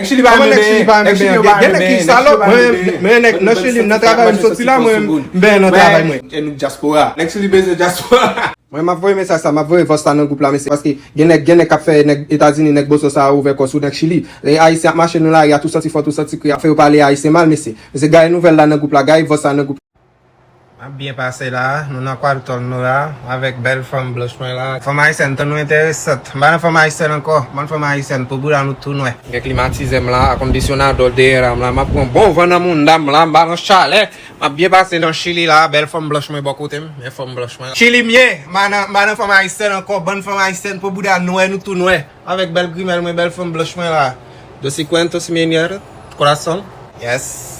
Nèg chili pa renmen benyen, nèg chili yo pa renmen benyen, nèg chili yo pa renmen benyen. Mwen nèg nan chili nan travay m soti la mwen benyen nan travay mwen. E nou dyaspora. Nèg chili bezwen dyaspora. Mwen map voye mesaj sa map voye vòs sa nan gwoup la mesye paske gen nèg gen nèg kap fè nèg etazini nèg boso sa yo ouvè kò sou nèg chili lè ayisyen ap mache nan lari a tou santi fò tou santi kri ap fè yo pale ayisyen mal mesye mesye gaye nouvèl la nan gwoup la gaye vòs sa nan gwoup Map byen pase la, nou nan kwadtòl nou la avèk bèl fanm blanch mwen la. Fanm ayisyèn tan nou entèresant. M pa nan fanm ayisyèn ankò, m bann fanm ayisyèn pou bouda nou tou nwè. M gen klimatizè m la, akondisyonadò dèyè m la, map pran bon van nan mounda m la, m pa nan chalè. Map byen pase nan chili la, bèl fanm blanch mwen bò kote m, men fanm blanch mwen la. Chili m ye, m pa nan fanm ayisyèn ankò, bann fanm ayisyèn po bouda nwè nou tou nwè. Avèk bèl grimèl mwen bèl fanm blanch mwen la dosi cuento si mi nier corazón. Yes.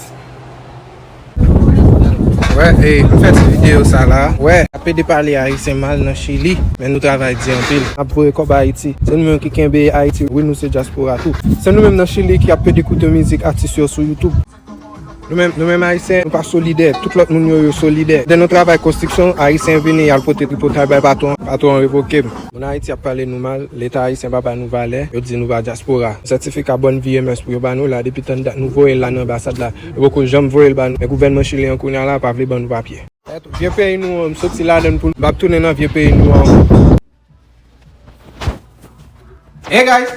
Wè e m fè ti video sa la. Wè a pede pale ayisyen mal nan chili men nou travay di anpil. Nap voye kòb ayiti. Se nou menm ki kenbe ayiti wi nou se dyaspora tou. Se nou menm nan chili ki ap pede koute mizik atis yo sou youtube. Nou menm Ayisyen, nou pa solidè. Tout lòt moun yo, yo solidè. Lè nou travay konstriksyon, Ayisyen vini, y al pote tripotay bay patwon an, patwon an revoke m. Moun Ayiti ap pale nou mal, Leta ayisyen pa ba nou valè, yo di nou pa dyaspora. Sètifika Bòn Vi e Mès pou yo ba nou la, depi tann dat nou voye l la nan anbasad la, yo poko janm voye l ba nou. Men gouvènman Chili an kounya la pa vle ban nou papye. Vye peyi nou an, m soti ladan l pou m pa tounen nan vye peyi nou an ankò. Hey guys!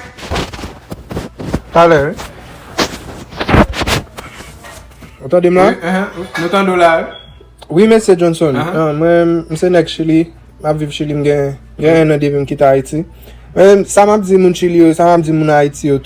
Talè wi. Ou tande m la? Wi, ehe, nou tande w la wi. Wi mesye Johnson, mwen m se nèg Chili, m ap viv Chili m gen 1 an depi m kite Ayiti. Men sa m ap di moun Chili yo, sa m ap di moun Ayiti yo tou.